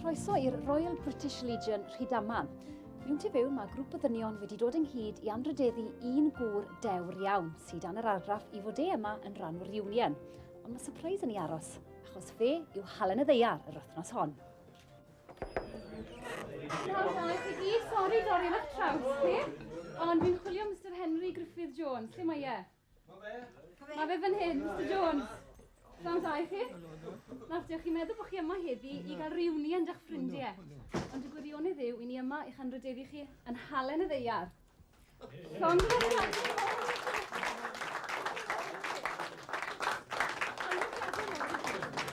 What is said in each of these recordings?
Croeso i'r Royal British Legion Rhydaman. Fi'n ti fyw, mae grŵp o ddynion wedi dod ynghyd i anrhydeddu un gŵr dewr iawn sydd dan yr argraff i fod e yma yn rhan o'r union. Ond mae surprise yn ei aros, achos fe yw halen y ddeiar yr wythnos hon. Sori, dorri fach traws ti. Ond fi'n chwilio Mr Henry Griffith Jones. Lle mae e? Mae fe? Mae fe fan hyn, Mr Jones. Pnawn da i chi. Nawr, diolch chi'n meddwl bod chi yma heddi i gael reunion â'ch ffrindiau. Ond y gwirionedd yw, i ni yma i'ch anrhydeddu chi yn halen y ddeiar.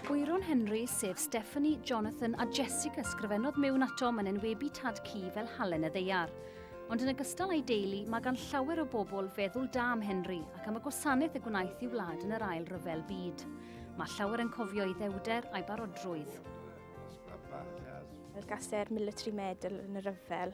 Bwyron Henry, sef Stephanie, Jonathan a Jessica sgrifennodd mewn ato mae'n enwebu tad cu fel halen y ddeiar. Ond yn ogystal â'i deulu, mae gan llawer o bobl feddwl da am Henry ac am y gwasanaeth y gwnaeth i wlad yn yr ail ryfel byd. Mae llawer yn cofio ei ddewder a'i barodrwydd. Gaster Military Medal yn y rhyfel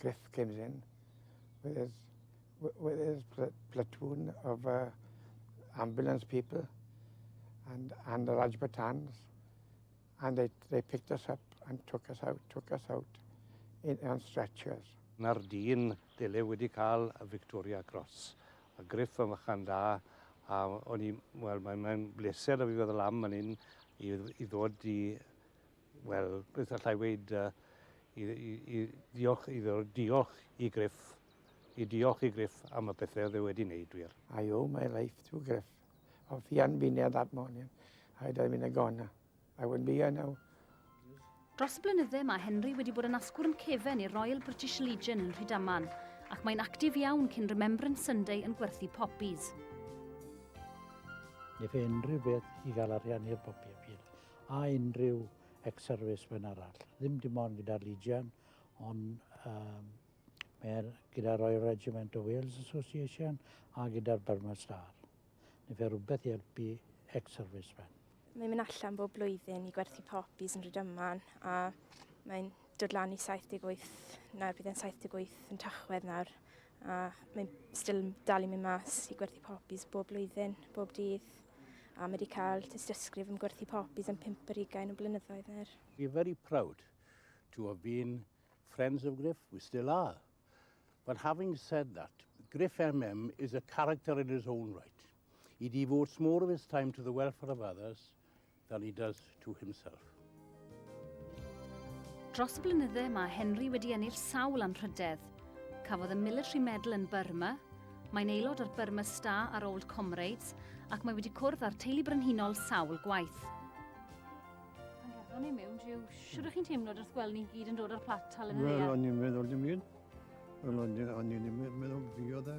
Griff Cynllun with with his platoon of uh, ambulance people and, and the Rajputans. And they, they picked us up and took us out, took us out in, on stretchers. Na'r dyn dyle wedi cael y Victoria Cross. A Griff yn fychan da, a o'n i, wel, mae'n mae bleser o fi fod y lam yn un i, i ddod i Wel, beth allai weud, uh, i, i, i ddiolch iddo, diolch i Griff, i diolch i Griff am y pethau oedd e wedi wneud wir. I owe my life to Griff. If he hadn't been there that morning, I'd have been a goner. I wouldn't be here now. Dros y blynydde mae Henry wedi bod yn asgwrn cefen i'r Royal British Legion yn Rhydaman, ac mae'n actif iawn cyn Remembrance Sunday yn gwerthu poppies. Nid unrhyw beth i gael arian i'r bobi appeal. a unrhyw ex-servicemen arall. Ddim dim ond gyda'r Legion, ond um, mae'r gyda Royal Regiment of Wales Association a gyda'r Burma Star. Neu fe rhywbeth i helpu ex-servicemen. Mae'n mynd allan bob blwyddyn i gwerthu popis yn Rhydyman a mae'n dod lan i 78, nawr bydd e'n 78 yn Tachwedd nawr A mae still yn dal i mynd mas i gwerthu poppies bob blwyddyn, bob dydd. A mae wedi cael tystysgrif yn gwerthu poppies am pimp ar ugain o blynyddoedd nawr. We're very proud to have been friends of Griff, we still are. But having said that, Griff MM is a character in his own right. He devotes more of his time to the welfare of others than he does to himself. Dros y blynydde mae Henry wedi ennill sawl anrhydedd. Cafodd y Military Medal yn Burma, mae'n aelod o'r Burma Star a'r Old Comrades ac mae wedi cwrdd â'r teulu brenhinol sawl gwaith. Pan gafon ni mewn, Jiw, siwr ych chi'n teimlo wrth gweld ni'n gyd yn dod o'r plat tal yn y ddeall? Wel, o'n i'n meddwl dim un. Wel, o'n i'n meddwl fi oedd e.